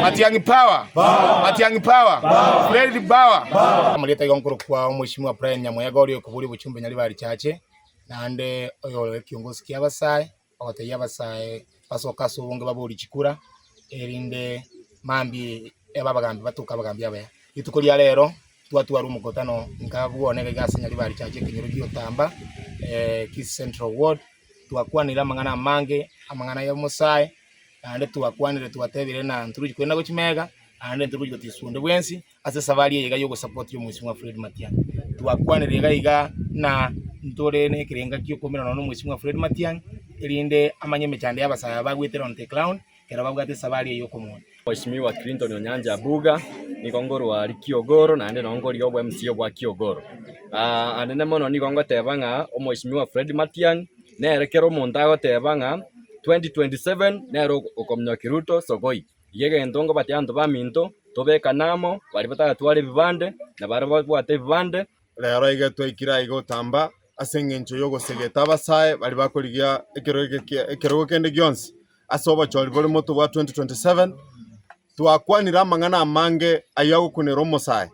Matiang'i power power Matiang'i power power Fred power power Amarieta igo nkoro kwa omweshimiwa Brian Nyamoyega oria okoboria obochumbe nyariba richache naende oyore ekiongosi kia abasae ogotebia abasae basoke ase obonge babori chikura erinde mambi ebe abagambi batoke abagambi abaya rituko ria rero twatwara omokutano inga abwo one iga ase nyariba richache ekenyoro giotamba Kisii central ward twakwanire amang'ana amange amang'ana yomosae. naende twakwanire twatebire ng'a ntorochi kogenda gochia mega, naende ntorochi gotisu onde bwensi ase esafari eye iga y'ogosapoti omwesimwa Fred Matiang'i. Twakwanire iga iga ng'a ntore nekerenga giokoumera nonya nomwesimwa Fred Matiang'i, erinde amanye emechando y'abasae aba bagwete Lonteklaun ekero babwate esafari eye y'okomoonia. Mweshimiwa Clinton Onyancha Abuga, nigo nkorwa aria Kiogoro, naende nabo nkoria obo mca bwa Kiogoro. Anene mono nigo ngoteba ng'a omweshimiwa Fred Matiang'i, nere kera omonto agoteba ng'a 2027 nere okominyokia Ruto sokoi. Erio egento nkobatebi abanto baminto, tobekane amo, baria bataratwara ebibande, nabaria babwate ebibande, Reero iga twaikire aiga otamba, ase engencho y'ogosegeta abasae baria bakorigia ekerogo kende gionsi ase obochori bore moto bwa 2027, twakwanire amang'ana amange ayio agokunera omosae,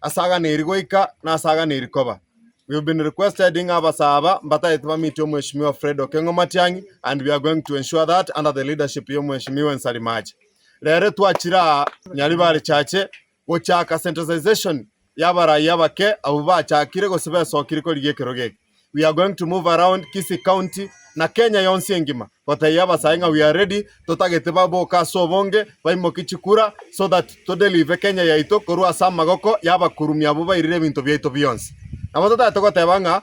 ase agana eri goika na ase agana eri koba. We have been requesting abasae aba mbatagete ba meet Omweshimiwa Fred Okengo Matiang'i and we are going to ensure that under the leadership y'Omweshimiwa Nsalimacha. Reero twachire aa nyaribare chache Gochaaka centralization ya abaraaia abake abwo baachakire gose besokire korigia ekerogo eke. We are going to move around Kisii county na Kenya yonsi engima gotebia abasae ng'a we are ready totagete baboke ase obonge baimokie chikura so that to delive Kenya yaito korwa ase amagoko ya abakurumi abwo bairire ebinto biaito bionsi. Nabo totaete goteba ng'a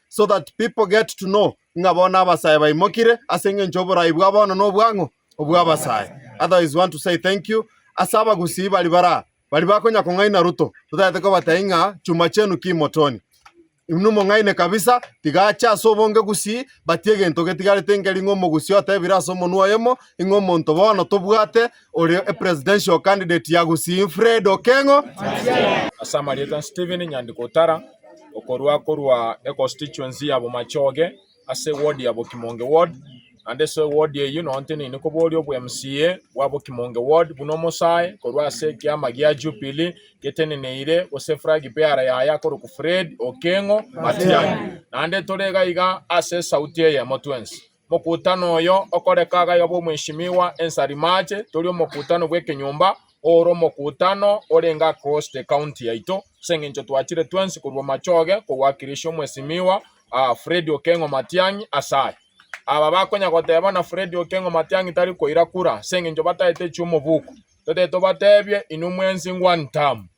so that people get to know ng'a bono abasae baimokire ase engencho y'oboraai bwa bono na obwang'u bw'abasae. Otherwise want to say thank you ase abagusii bari baraa bari bakonya kong'aina Ruto totaete kobateai ng'a chuma chenu ki motoni. Inwe mong'aine kabisa tiga ache ase obonge gusii but egento getigarete nker'ing'o omogusii otebire ase omonwa oyomo ing'o omonto bono tobwate ore a presidential candidate ya Gusii Fred Okengo. Ase amarieta Stephen Nyandiko Otara okorwa korwa econstituency ya Bomachoge ase eward ya Bokimonge ward naende ase eward eyio nonye nteneine koboria obwa MCA bwa Bokimonge ward buna omosae korwa ase ekiama gia Jubilee geteneneire gose flag bearer yaye akorokwa Fred Okengo Matiang'i naende tore iga iga ase esauti eyemo twensi. Mokutano oyo okoreka agaya obe omweshimiwa ense aria March tori omokutano bw'ekenyomba oore omokutano orenge across the county yaito ase engencho twachire twensi korwa machoge kowakirishia omwesimiwa Freddy Okengo Matiang'i ase aya. Aba bakonya goteba bana Freddy Okengo Matiang'i tari koira kura ase engencho bataete chiomobuko totete tobatebie inwe mwensi one term.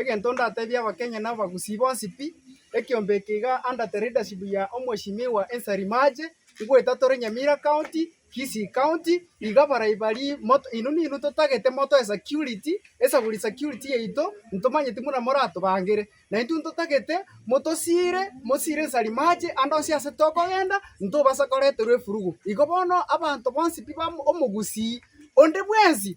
Egento ndatebie abakenya na abagusii bonsi pi, ekiombe eke iga under the leadership ya Omweshimiwa Ensari Mache, ngoetatore Nyamira County, Kisii County, iga barai baria moto inwe ninwe totagete motoe security, esaburi security yaito, ntomanyeti buna moratobangere. Na intwe ntotagete motosiire, mosiire Ensari Mache ande onsi ase tokogenda, ntobasa koreterwa efurugo. Igo bono abanto bonsi pi ba omogusii onde bwensi,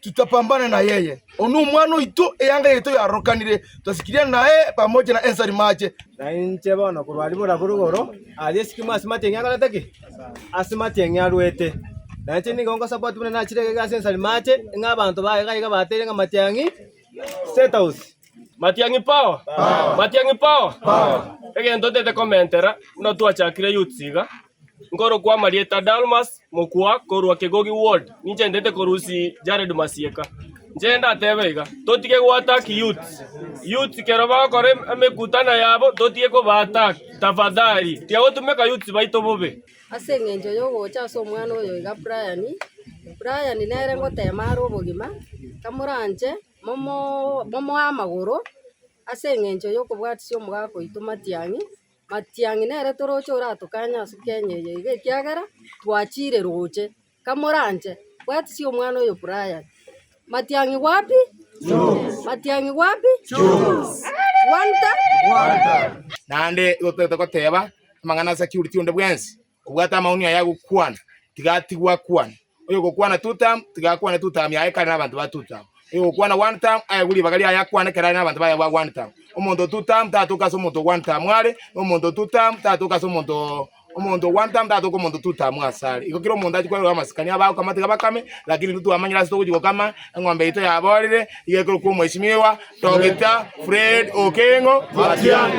Tutapambana na yeye. Oyo nomwana oito, eanga yaito yarorokanire, twasikiria naye pamoja na ensari mache. Na inche bono korwa aria bora bore igoro aria esikimo ase matieng'e akorete ki? Ase matieng'e arwete. Na inche nigo ngosaba oti buna nachire egega ase ensari mache, ng'a abanto baye gaiga bateire ng'a matiang'i State House. Matiang'i Power! Matiang'i Power! Egento totaete komentera buna twachakire Youths iga. Nkorokwa Marieta Dalmas mokwa korwa Kegogi ward ninche ndete korusi Jared Masieka. Inche ndatebe iga, totige go attack youths. Youths kero bagokora em- emekutano yabo totige koba attack tafadhali. Tiagotumeka youths baito bobe. Ase eng'encho yogocha ase omwana oyo iga Brian, Brian nere ngotema are obogima, kamoranche momo momoe amagoro ase eng'encho yokobwatisia omogaka oito Matiang'i. Matiang'i nere toroche oratukanye ase Kenya eye iga ekiagera twachire roche. Kamoranche, bwatisia omwana oyo Brian. Matiang'i wapi? Jones. Matiang'i wapi? Jones. Wanta? Wanta. Naende igo toete goteba amang'ana ase Achiuriti onde bwensi. Kobwata amauni aya agokwana, tiga atigwe akwane. Oyogokwana two term, tiga akwane two term yaye kare nabanto ba two term. Oyogokwana one term, aye gwe ribaga riaye akwane ekero are nabanto baye ba one term. Omonto o two term tatoka ase omonto o one term are, na omonto o two term tatoka ase omonto o omonto o one term tatoka omonto o two term ase are. Igo kera omonto achia kwerora amasikani aba agokama tiga bakame, lakini intwe twamanyire ase togochia gokama, eng'ombe yaito yaborire, iga ekorokwa Omweshimiwa Doctor Fred Okengo Matiang'i.